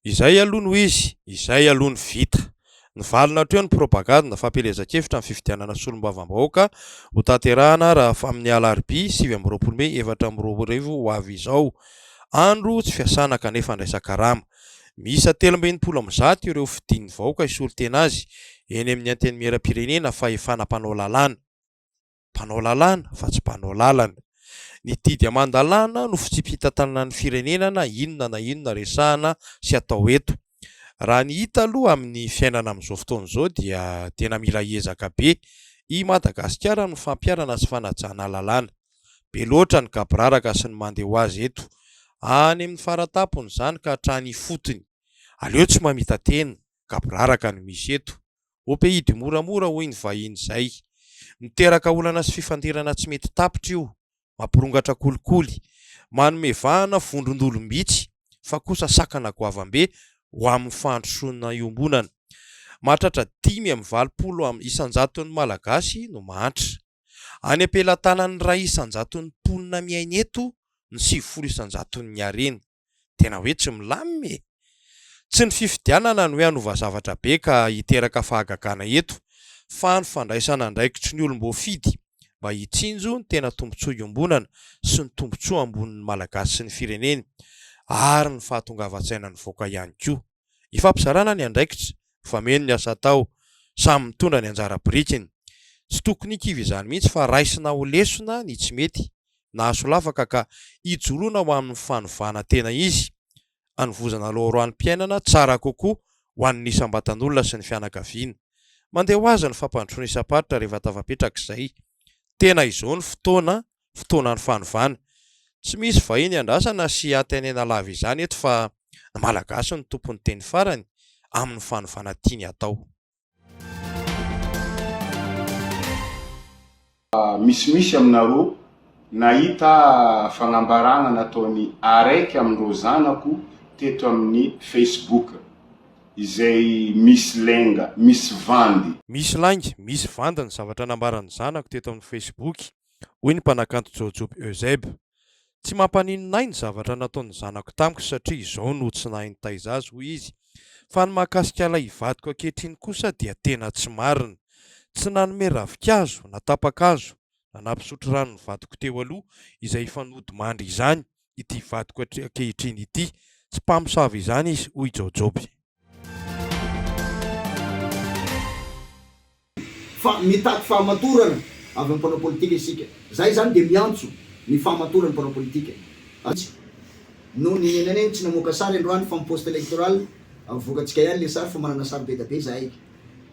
Izay aloha no izy, izay aloha no vita. Nivalona hatreo ny propagandy fampielezan-kevitra ny fifidianana solombavambahoaka hotanterahana raha amin'ny alarobia sivy amby roapolo mey efatra amby roa arivo ho avy izao. Andro tsy fiasana kanefa andraisan-karama. Miisa telo amby enimpolo amby zato ireo fidin'ny vahoaka hisolo tena azy eny amin'ny Antenimierampirenena, fahefana mpanao lalàna. mpanao lalàna fa tsy mpanao lalana. Ny didy aman-dalàna no fitsipi-pitantanana ny firenena na inona na inona resahana sy atao eto. Raha ny hita aloha amin'ny fiainana amin'izao fotoana izao dia tena mila ezaka be i Madagasikara amin'ny fampiharana sy fanajana lalàna. Be loatra ny gaboraraka sy ny mandeha ho azy eto, any amin'ny fara-tampony izany ka hatrany ifotony. Aleo tsy mamita-tena, gaboraraka no misy eto, Au pays du moramora hoy ny vahiny izay. Miteraka olana sy fifandirana tsy mety tapitra io, mampirongatra kolikoly, manome vahana vondron-dolom-bitsy fa kosa sakana goavambe ho amin'ny fandrosoana iombonana. Mahatratra dimy amby valopolo am isanjaton'ny Malagasy no mahantra. Any am-pelatanan'ny iray isanjaton'ny mponina miaina eto ny sivifolo isanjaton'ny harena. Tena hoe tsy milamina e! Tsy ny fifidianana no hoe hanova zavatra be ka hiteraka fahagagana eto fa ny fandraisana andraikitry ny olom-boafidy mba hitsinjo ny tena tombontsoa iombonana sy ny tombontsoa ambonin'ny Malagasy sy ny fireneny ary ny fahatongavan-tsaina nivoaka ihany koa. Ifampizarana ny andraikitra, mifameno ny asa atao, samy mitondra ny anjara birikiny. Tsy tokony hikivy izany mihitsy fa raisina ho lesona ny tsy mety nahasolafaka ka ijoroana ho amin'ny fanovana tena izy, hanovozana loharanom-piainana tsara kokoa ho an'ny isam-batan'olona sy ny fianakaviana. Mandeha ho azy ny fampandrosoana isam-paritra rehefa tafapetrak'izay. Tena izao ny fotoana fotoanan'ny fanovana. Tsy misy vahiny iandrasana sy antenaina lava izany eto fa ny Malagasy no tompon'ny teny farany amin'ny fanovana tiany atao. Misimisy aminareo nahita fagnambaragna nataony araiky amindreo zanako teto aminy Facebook izay misy lainga, misy vandy. Misy lainga, misy vandy ny zavatra nambarany zanako teto aminy Facebook. hoy ny mpanakanto Jojoby Eusèbe. Tsy mampaninona ahy ny zavatra nataon'ny zanako tamiko satria izao no tsy nahay nitaiza azy, hoy izy. Fa ny mahakasika ilay ivadiko ankehitriny kosa dia tena tsy marina. Tsy nanome ravinkazo na tapa-kazo na nampisotro rano ny vadiko teo aloha izay hifanodimandry izany, ity vadiko ankehitriny ity. Tsy mpamosavy izany izy, hoy i Jaojoby. Fa mitaky fahamatorana avy amin'ny mpanao politika isika. Izahay izany dia miantso ny fahamatorany mpanao politika. Azy no nenenanay tsy namoaka sary androany fa mi-post electoral avokantsika ihany ilay sary fa manana sary be dia be izahay.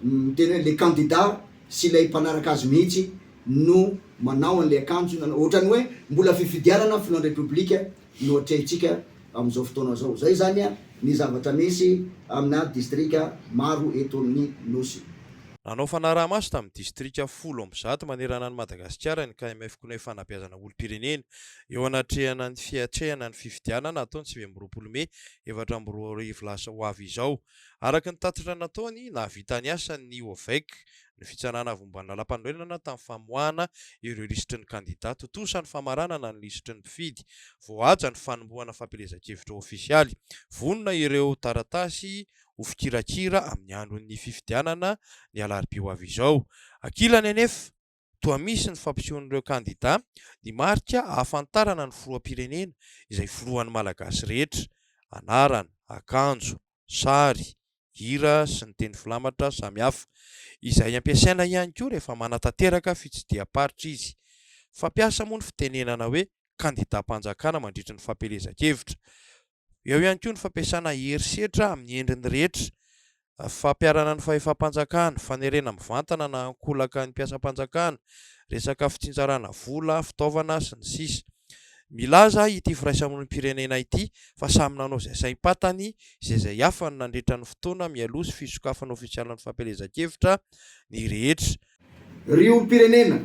Miteny hoe ilay kandida sy ilay mpanaraka azy mihitsy no manao an'ilay akanjo na ohatran'ny hoe mbola fifidianana filohan'ny Repoblika no atrehintsika amin'izao fotoana izao. Izay izany ny zavatra misy amina distrika maro eto amin'ny Nosy. Nanao fanaraha-maso tamin'ny distrika folo amby zato manerana an'i Madagasikara ny KMF Cnef Fanabeazana olom-pirenena eo anatrehana ny fiatrehana ny fifidianana hatao ny sivy amby roapolo mey efatra amby roa arivo lasa ho avy izao. Araka ny tatitra nataony, nahavita ny asany ny OVEC ny fitsanana avy momba ny lalampanorenana tamin'ny famoahana ireo lisitry ny kandida tontosa ny famaranana ny lisitry ny mpifidy, voahaja ny fanombohana fampielezan-kevitra ofisialy, vonona ireo taratasy ho fikirakira amin'ny andron'ny fifidianana ny alarobia ho avy izao. Ankilany anefa, toa misy ny fampisehoan'ireo kandida ny marika ahafantarana ny filoham-pirenena izay filohan'ny Malagasy rehetra, anarana, akanjo, sary, hira sy ny teny filamatra samihafa, izay ampiasaina ihany koa rehefa manatanteraka fitsidiham-paritra izy. Fampiasa moa ny fitenenana hoe kandidam-panjakana mandritry ny fampielezan-kevitra. Eo ihany koa ny fampiasana herisetra amin'ny endriny rehetra, fampiharana ny fahefam-panjakana, fanerena mivantana na ankolaka ny mpiasam-panjakana, resaka fitsinjarana vola, fitaovana, sy ny sisa. Milaza ity firaisamonim-pirenena ity fa samy nanao izay saim-patany sy izay afany nandritra ny fotoana mialoha sy fisokafana ofisialin'ny fampielezan-kevitra ny rehetra. Ry olom-pirenena,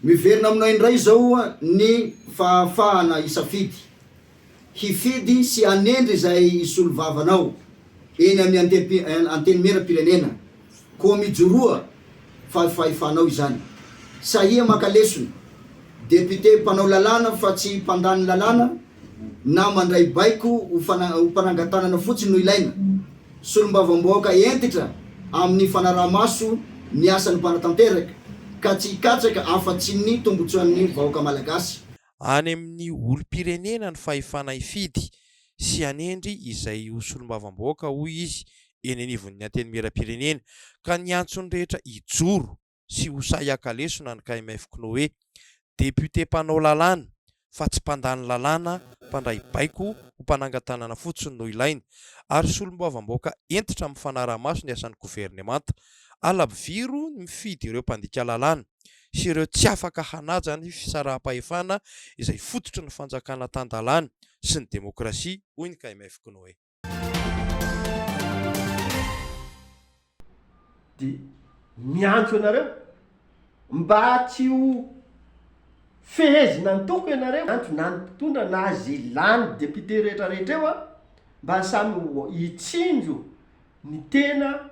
miverina aminao indray izao ny fahafahana hisafidy. hifidy sy hanendry izay hisolovavanao eny amin'ny Antenimieram-pirenena koa mijoroa fa fahefanao izany. Sahia maka lesona, Député mpanao lalàna fa tsy mpandany lalàna na mandray baiko ho mpanangan-tanana fotsiny no ilaina. Solombavambahoaka hentitra amin'ny fanaraha-maso ny asan'ny mpanatanteraka ka tsy hikatsaka afa-tsy ny tombotsoan'ny vahoaka malagasy. Any amin'ny olom-pirenena ny fahefana hifidy sy hanendry izay ho solombavambahoaka, hoy izy, eny anivon'ny Antenimierampirenena, ka niantso ny rehetra hijoro sy ho sahy haka lesona ny KMF Knoe. Député mpanao lalàna fa tsy mpandany lalàna, mpandray baiko ho mpanangan-tanana fotsiny no ilaina, ary solombavambahoaka hentitra amin'ny fanaraha-maso ny asan'ny governemanta. Halabviro ny mifidy ireo mpandika lalàna. sy ireo tsy afaka hanaja ny fisaraham-pahefana izay fototry ny fanjakana tan-dalàna sy ny demokrasia, hoy ny KMF Kinoe. Dia miantso anareo mba tsy ho fehezina antoko ianareo, miantso na ny mpitondra na izay lany député rehetra rehetra eo mba samy hitsinjo ny tena.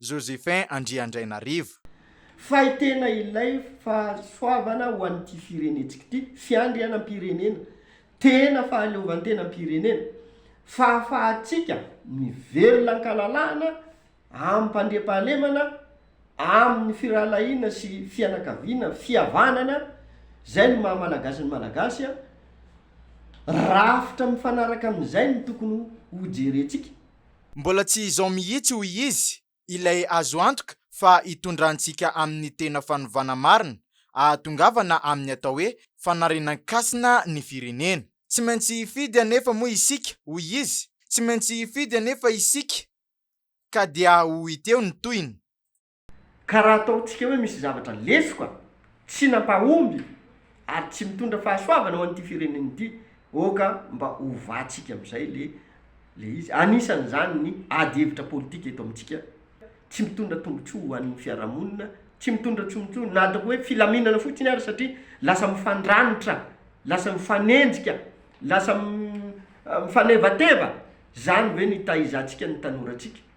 Josephin Andriandrainarivo. Fay tena ilay fahasoavana ho an'ity firenentsika ity, fiandrianam-pirenena, tena fahaleovantenam-pirenena, fahafahantsika mivelona an-kalalahana, amim-pandriampahalemana, amin'ny firahalahiana sy fianakaviana, fihavanana, izay no maha Malagasy ny Malagasy, rafitra mifanaraka amin'izay no tokony hojerentsika. Mbola tsy izao mihitsy hoy izy ilay azo antoka fa hitondrantsika amin'ny tena fanovana marina ahatongavana amin'ny atao hoe fanarinan-kasina ny firenena. Tsy maintsy hifidy anefa moa isika hoy izy, tsy maintsy hifidy anefa isika ka dia ho hita eo ny tohiny. Ka raha ataontsika hoe misy zavatra lesoka, tsy nampahomby, ary tsy mitondra fahasoavana ho an'ity firenena ity, oka mba ovatsika amin'izay le le izy. Anisan'izany ny ady hevitra politika eto amintsika, tsy mitondra tombotsoa ho an'ny fiarahamonina, tsy mitondra tsombotsoa na ataoko hoe filaminana fotsiny ary satria lasa mifandranitra, lasa mifanenjika, lasa mifanevateva, zany ve no itaizantsika ny tanorantsika?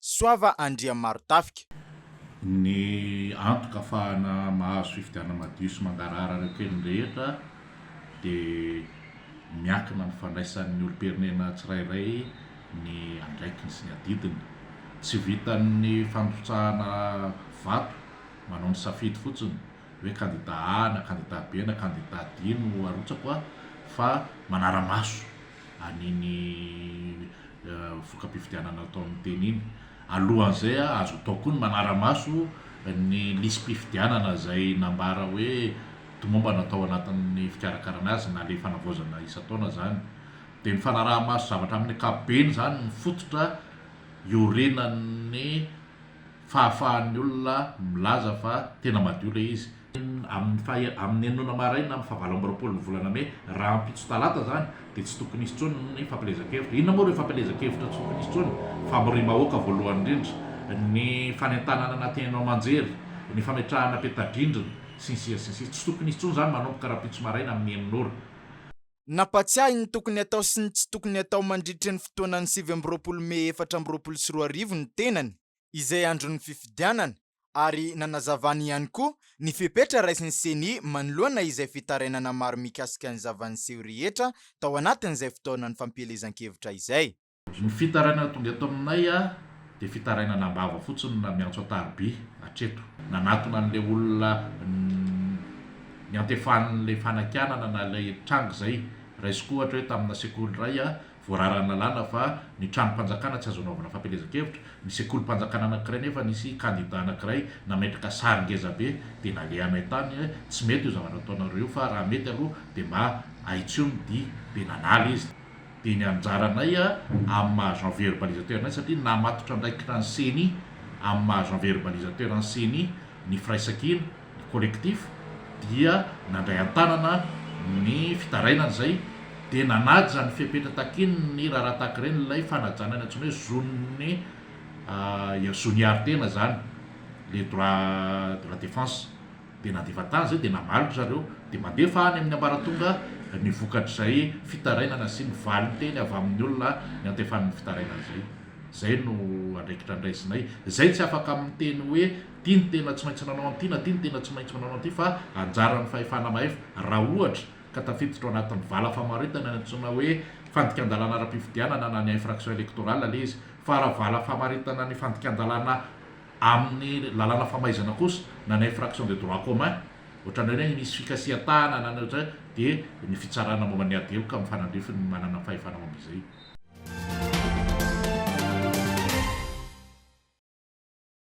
Soava Andriamarontafika. Ny antoka afahana mahazo fifidianana madio sy mangarahara ireo teny rehetra dia miankina amin'ny fandraisan'ny olom-pirenena tsirairay ny andraikiny sy ny adidiny. Tsy vitan'ny fandrotsahana vato manao ny safidy fotsiny hoe kandida A na kandida B na kandida D no arotsako fa manara-maso. an'iny voka-pifidianana atao amin'ny teny iny. Alohan'izay, azo atao koa ny manara-maso ny lisi-pifidianana izay nambara hoe tomombana tao anatin'ny fikarakarana azy na ilay fanavaozana isan-taona izany. Dia ny fanaraha-maso zavatra amin'ny ankapobeny izany no fototra iorenan'ny fahafahan'ny olona milaza fa tena madio ilay izy. amin'ny faha amin'ny enina maraina amin'ny faha valo amby roapolon'ny volana mey, rahampitso talata izany, dia tsy tokony hisy intsony ny fampielezan-kevitra. Inona moa ireo fampielezan-kevitra tsy tokony hisy intsony? Famoriam-bahoaka voalohany indrindra, ny fanentanana anaty haino aman-jery, ny fametrahana peta-drindrina, sy ny sisa sy ny sisa. Tsy tokony hisy intsony izany manomboka rahampitso maraina amin'ny enina ora. Nampahatsiahy ny tokony hatao sy ny tsy tokony hatao mandritry ny fotoanan'ny sivy amby roapolo mey efatra amby roapolo sy roa arivo ny tenany, izay andron'ny fifidianana ary nanazavany ihany koa ny fepetra raisin'ny Ceni manoloana izay fitarainana maro mikasika ny zava-niseho rehetra tao anatin'izay fotoana ny fampielezan-kevitra izay. Ny fitarainana tonga eto aminay dia fitarainana am-bava fotsiny na miantso an-tariby hatreto. Nanatona an'ilay olona niantefan'ilay fanakianana na ilay tranga izay. Raisiko ohatra hoe tamina sekoly iray Voararan'ny lalàna fa ny tranom-panjakana tsy azo anaovana fampielezan-kevitra, ny sekolim-panjakana anankiray nefa nisy kandida anankiray nametraka sary ngeza be dia nalehanay tany hoe tsy mety io zavatra ataonareo io fa raha mety aloha dia mba ahitsony dia dia nanala izy dia ny anjaranay amin'ny maha jean-verbalisateur anay satria namatotra andraikitra ny ceni amin'ny maha jean-verbalisateur an'ny ceni ny firaisankina collectif dia nandray an-tanana ny fitarainana izay dia nanaja ny fepetra takian'ny raharaha tahaka ireny ilay fanajana ny antsoina hoe zon'ny zon'ny hiaro-tena izany, les droits de la défense. Dia nandefa tany izay dia namaly ry zareo dia mandefa any amin'ny ambaratonga ny vokatr'izay fitarainana sy ny valin-teny avy amin'ny olona niantefan'ny fitarainana izay. Izay no andraikitra niraisinay izay tsy afaka amin'ny teny hoe. Ty ny tena tsy maintsy nanao an'ity na ty ny tena tsy maintsy manao an'ity fa anjaran'ny fahefana mahefa raha ohatra ka tafiditra ao anatin'ny vala famaritana ny antsoina hoe fandikan-dalàna ara-pifidianana na ny infraction électorale ilay izy fa raha vala famaritana ny fandikan-dalàna amin'ny lalàna famaizana kosa na ny infraction de droit commun ohatran'ireny hoe misy fikasihan-tahana na ny ohatran'izay dia ny fitsarana momba ny ady heloka mifanandrify ny manana fahefana momba izay.